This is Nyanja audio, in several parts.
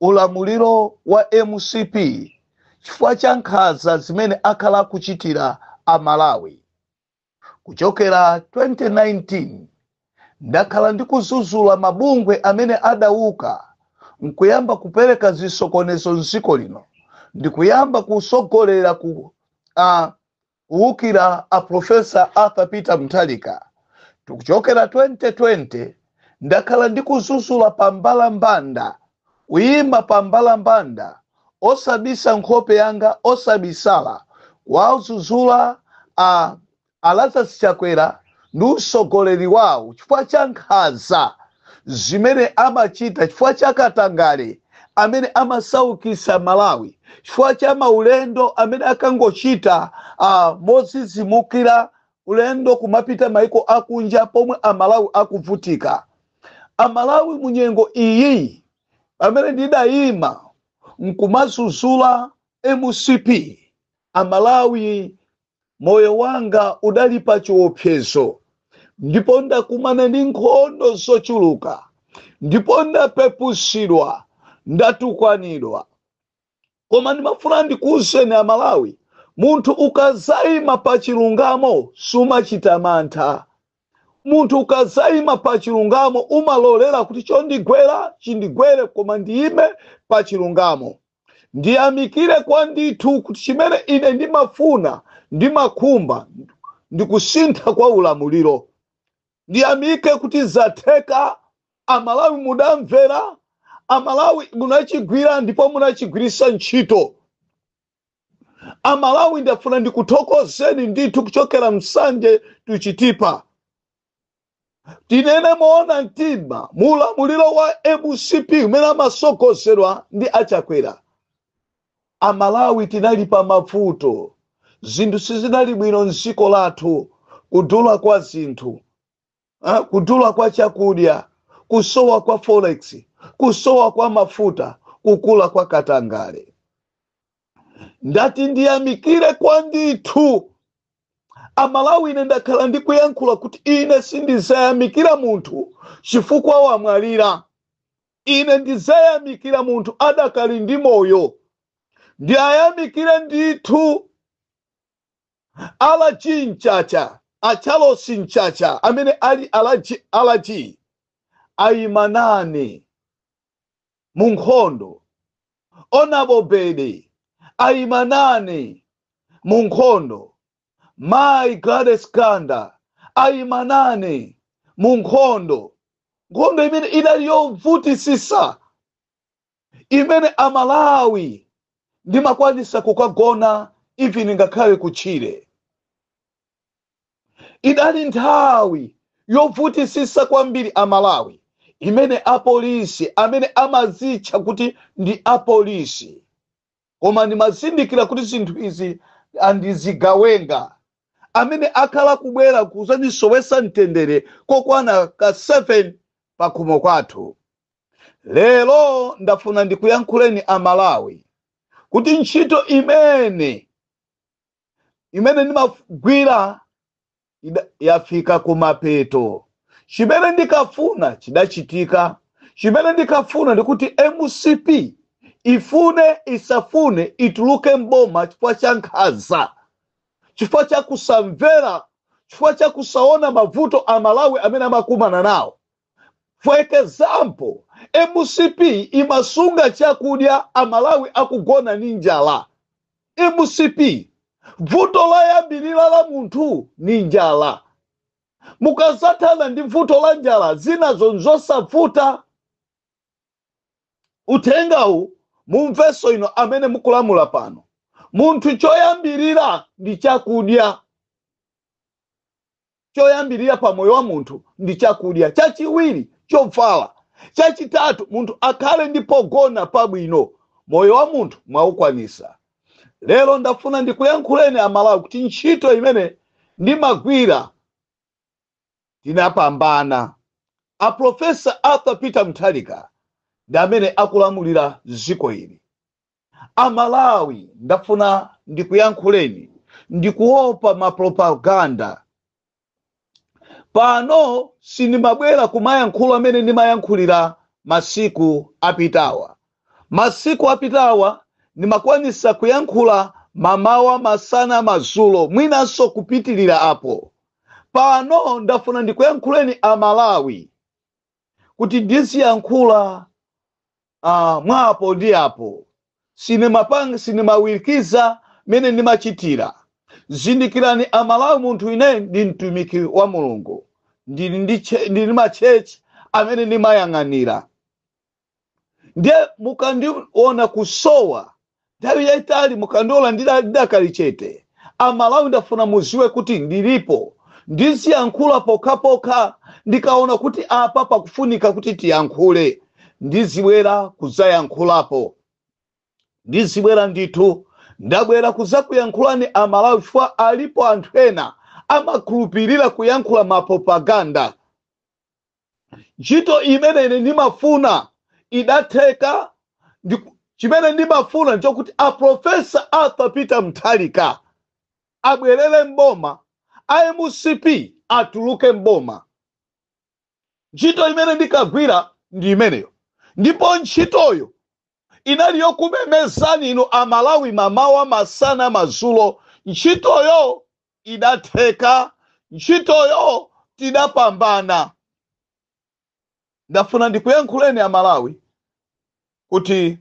ulamuliro wa mcp chifukwa cha nkhanza zimene akhala akuchitira amalawi kuchokera 2019 ndakhala ndikuzuzula mabungwe amene adauka nkuyamba kubweretsa zisokonezo mdziko lino ndikuyamba kusogolera ku uh, kuwukira a professor arthur peter mutharika kuchokera 2020 ndakhala ndikuzuzula pa mbalambanda kuyima pa mbalambanda osabisa nkhope yanga osabisala kuwazuzula a lazarus chakwera ndi usogoleri wawo, chifukwa cha nkhanza zimene amachita, chifukwa cha katangale amene amasaukisa Malawi, chifukwa cha maulendo amene akangochita ah, mozizimukira ulendo kumapita maiko akunja pomwe Amalawi akuvutika. Amalawi munyengo iyi pamene ndidayima nkumazuzula mcp amalawi moyo wanga udali pa chiopsezo ndipo ndakumana ndi nkhondo zochuluka ndipo ndapepusidwa ndatukwanidwa koma ndimafuna ndikuwuzeni amalawi munthu ukazayima pa chilungamo sumachita mantha munthu ukazayima pa chilungamo umalolera kuti chondigwera chindigwere koma ndiyime pa chilungamo ndiyamikire kwa ndithu kuti chimene ine ndimafuna ndimakhumba ndi kusintha kwa ulamuliro ndiyamike kuti zatheka amalawi mudamvera amalawi munachigwira ndipo munachigwirisa ntchito amalawi ndafuna ndikuthokozeni ndithu kuchokera nsanje to chitipa tinene moona mtima mu ulamuliro wa mcp umene amasogozedwa ndi achakwera amalawi tinali pa mavuto zinthu sizinali bwino mdziko lathu kudula kwa zinthu ah, kudula kwa chakudya kusowa kwa forex kusowa kwa mafuta kukula kwa katangale ndati ndiyamikire kwa ndithu amalawi ine ndakhala ndikuyankhula kuti ine sindizayamikira munthu chifukwa wamwalira ine ndizayamikira munthu adakali ndi moyo ndiwayamikire ndithu alaji mchacha a charles mchacha amene ali alaji alaji ayimanani mu nkhondo onabobede ayima nane mu nkhondo mayi gladys kanda ayima nane mu nkhondo nkhondo imene idali yovutisisa imene amalawi ndimakwanisa kukagona even ngakhale kutchire idali nthawi yobvutisisa kwambiri amalawi imene apolisi amene amazitcha kuti ndi apolisi koma ndimazindikira kuti zinthu izi andizigawenga amene akhala kubwera kuzandisowetsa mtendere kokwana ka 7 pakhomo pathu lero ndafuna ndikuyankhuleni amalawi kuti ntchito imene imene ndimagwira yafika kumapeto chimene ndikafuna chidachitika chimene ndikafuna ndikuti mcp ifune isafune ituluke mboma chifukwa cha nkhanza chifukwa cha kusamvera chifukwa cha kusaona mavuto amalawi amene amakumana nawo For example, mcp imasunga chakudya amalawi akugona ni njala mcp vuto loyambirira la munthu ni njala mukazathana ndi vuto la njala zinazo nzosavuta uthengawu mumvenso inu amene mukulamula pano munthu choyambirira ndi chakudya Choyambirira pa moyo wa munthu ndi chakudya, chachiwiri chovala, chachitatu munthu akhale ndi pogona pabwino. Moyo wa munthu mwaukwanisa. Lero ndafuna ndikuyankhuleni a Malawi kuti ntchito imene ndimagwira tinapambana. A Professor Arthur Peter Mutharika ndi amene akulamulira dziko ili. Amalawi ndafuna ndikuyankhuleni ndikuopa mapropaganda pano sindimabwera kumayankhula amene ndimayankhulira masiku apitawa masiku apitawa ndimakwanisa kuyankhula mamawa masana madzulo mwinanso kupitilira apo pano ndafuna ndikuyankhuleni amalawi kuti ndiziyankhula mwa apo ndi apo sindimapanga sindimawirikiza mene ndimachitira zindikirani amalawi munthu ine ndi mtumiki wa mulungu ndili ndi che- ndili ndi machechi amene ndimayang'anira ndiye mukandiona kusowa nthawi yayitali mukandiona ndidakali chete amalawi ndafuna muziwe kuti ndilipo ndiziyankhula pokhapokha ndikaona kuti apa pakufunika kuti tiyankhule ndizibwera kudzayankhulapo ndizibwera ndithu ndabwera kuzakuyankhulani amalawi chifukwa alipo anthu ena amakhulupirira kuyankhula mapropaganda ntchito imene ine ndimafuna idatheka chimene ndimafuna nchokuti a profesa arthur peter mutharika abwerere mboma a mcp atuluke mboma ntchito imene ndikagwira ndi imeneyo ndipo ntchitoyo inali yokumemezani inu a Malawi mamawa, masana, madzulo. Ntchitoyo idatheka. Ntchitoyo tidapambana. Ndafuna ndikuyankhuleni a Malawi kuti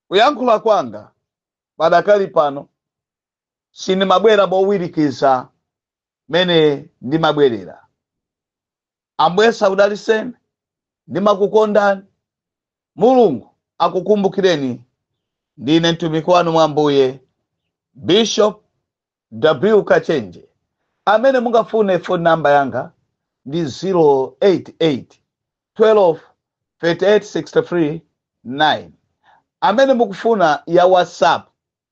kuyankhula kwanga padakali pano sindimabwera mowirikiza mmene ndimabwerera. Ambuye akudalitseni ndimakukondani mulungu akukumbukireni ndine mtumiki wanu mwa ambuye bishop w kachenje amene mungafune phone number yanga ndi 088 12 3863 9 amene mukufuna ya whatsapp